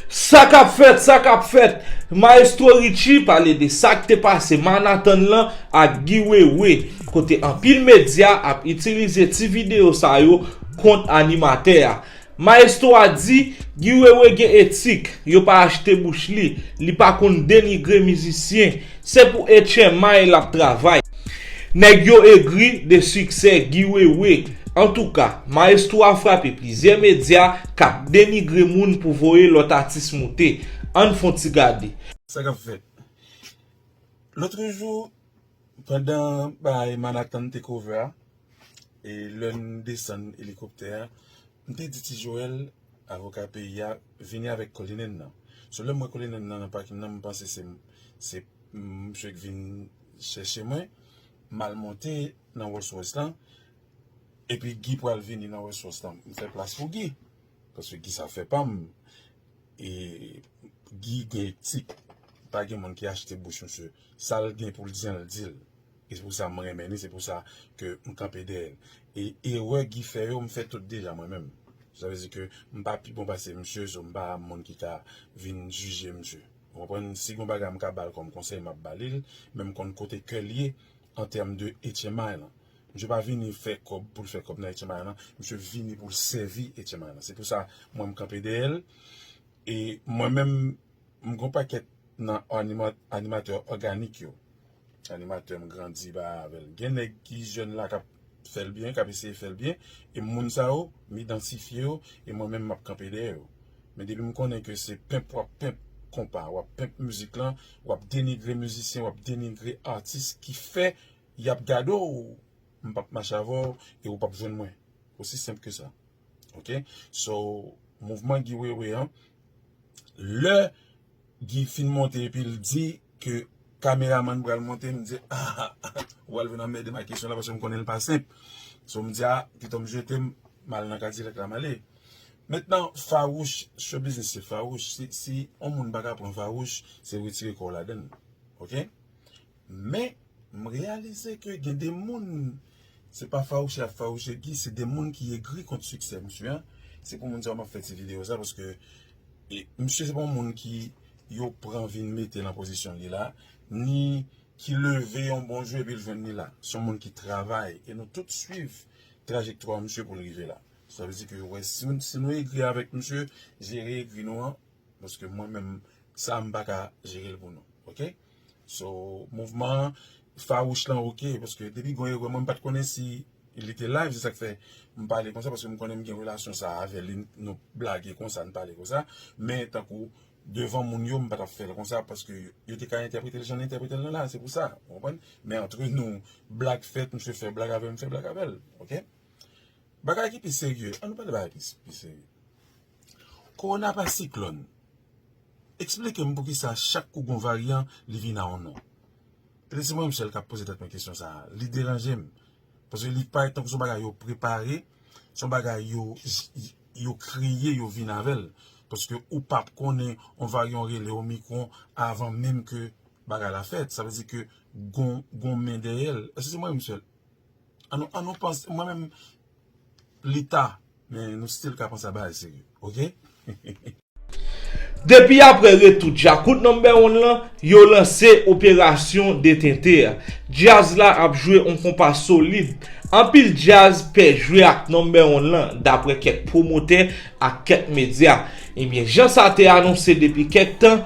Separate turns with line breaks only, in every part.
Sa kap fèt, sa kap fèt, Maestro Richie pale de sa k te pase Manhattan lan ak Guy Wewe, kote anpil medya ap itilize ti videyo sa yo kont animatè a. Maestro a di Guy Wewe gen etik, yo pa achte bouch li, li pa konn denigre mizisyen, se pou etchemay lap travay. Nèg yo egri de siksè Guy Wewe. Antouka, maestro a frape plizyè medya kap denigre moun pou voye lòt atis moute. Ann fon ti gade. Sa kap fèt.
Lotrejou. Pandan bagay Manhattan Takeover a, e lè n desann elikoptè a, m te di Ti Joel, avoka peyi a, vini avèk Cullinan nan. So lè m wè Cullinan nan nan pakin nan, m panse se se msye k vin chèche mwen. M al monte nan Rolls Royce lan, epi Guy pral vini nan Rolls Royce lan. M fè plas pou Guy, paske Guy se afè pa m. E Guy gen etik, pa gen moun ki achte bouch msye. Sal gen poul di an l dil. E se pou sa m renmen li se pou sa ke m kanpe dèyè l. E erè Guy fè yo m fè tout deja mwen menm. Sa vle di ke m pa pi bon pase misye so m pa moun ki ka vin jije misye. Ou konprann? Si gon bagay m ka ba l kòm konsèy m ap ba li l. Men m konn kote kè l ye an tèm de etchenmay lan. Misye pa vini fè kòb pou l fè kòb nan etchenmay lan. Misye vini pou l sèvi etchenmay lan. Se pou sa mwen m kanpe dèyè l. E mwen menm M gon pakèt nan animatè òganik yo. Animatè m grandi ba avèl. Gen nèg ki jèn la kap fèl byen, kap eseye fèl byen. E moun sa yo, m idantifye yo, e mwen menm map kanpe dèyè yo. Men depi m konnen ke se pimp wap pimp konpa, wap pimp mizik lan, wap denigre mizisyen, wap denigre atis ki fè yap gade w, m pap mache avèw e ou pap jwenn mwen. Osi senp ke sa. Ok so mouvman Guy Wewe an lè Guy fin monte epil di ke kameramann pral monte m di aa ou pral vin anmèdem ak kesyon la paske m konnenl pa senp so m di a pito m jetem m al nan kadilak la m ale mentnan fawouch show biznis se fawouch si yon moun paka pran fawouch se retire kòw ladann ok. Men, m reyalize ke gen de moun, se pa fawouche ap fawouche Guy, se de moun ki egri kont siksè misye an. Se pou moun sa yo m ap fè ti videyo sa, paske misye se pa yon moun ki yo pran vin mete nan pozisyon li la, ni ki leve yon bon jou epi l jwenn li la. Se yon moun ki travay, e nou tout swiv trajektwa misye pou l rive la. Sa vle di ke wè si nou egri avèk misye, jere egri nou an, paske mwen menm, sa a m pa ka jere l pou nou. Ok! So mouvman an fawouch lan ok paske depi gon erè mwen m pat konnen si li te live se sak fè m pale konsa paske m konnen m gen relasyon sa avè li nou blage konsa n pale konsa men tankou devan moun yo m pa tap fè l konsa paske yo te ka entèprete l jan n entèprete l nan la se pou sa ou konprann men antre nou blag fèt misye fè blag avè m m fè blag avè l ok bagay ki pi serye an nou pale bagay ki pi serye. Korona pa siklòn. Eksplike m poukisa chak kou gon varyan li vin a yon non. E li se mwen sèl kap poze tèt mwen kesyon sa a. Li deranje m. Paske li parèt tankou se yon bagay yo prepare, se yon bagay yo kreye, yo vin avè l. Paske ou pap konnen yon varyan rele omikron avan menm ke bagay la fèt. Sa vle di ke gon men dèyè l. Èske se mwen menm sèl? An nou panse mwen menm. Lita men nou still ka panse a bagay serye ok.
Depi apre retou Djakout Number One lan, yo lanse operasyon detente a. Djaz la ap jwe on konpa solid. Anpil djaz pè jwe ak Number One lan, daprè kèk pwomotè ak kèk medya. Ebyen, jan sa te anonse depi kèk tan,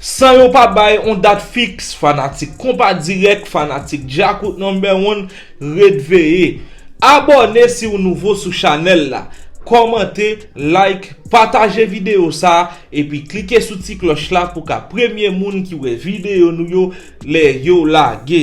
San
yo pa bay yon dat fiks fanatik konpa dirèk fanatik djakout number one ret veye Abòne si ou nouvo sou chanèl la Kòmante like pataje videyo sa epi klike sou ti klòch la pou ka premye moun ki wè videyo nou yo lè yo lage.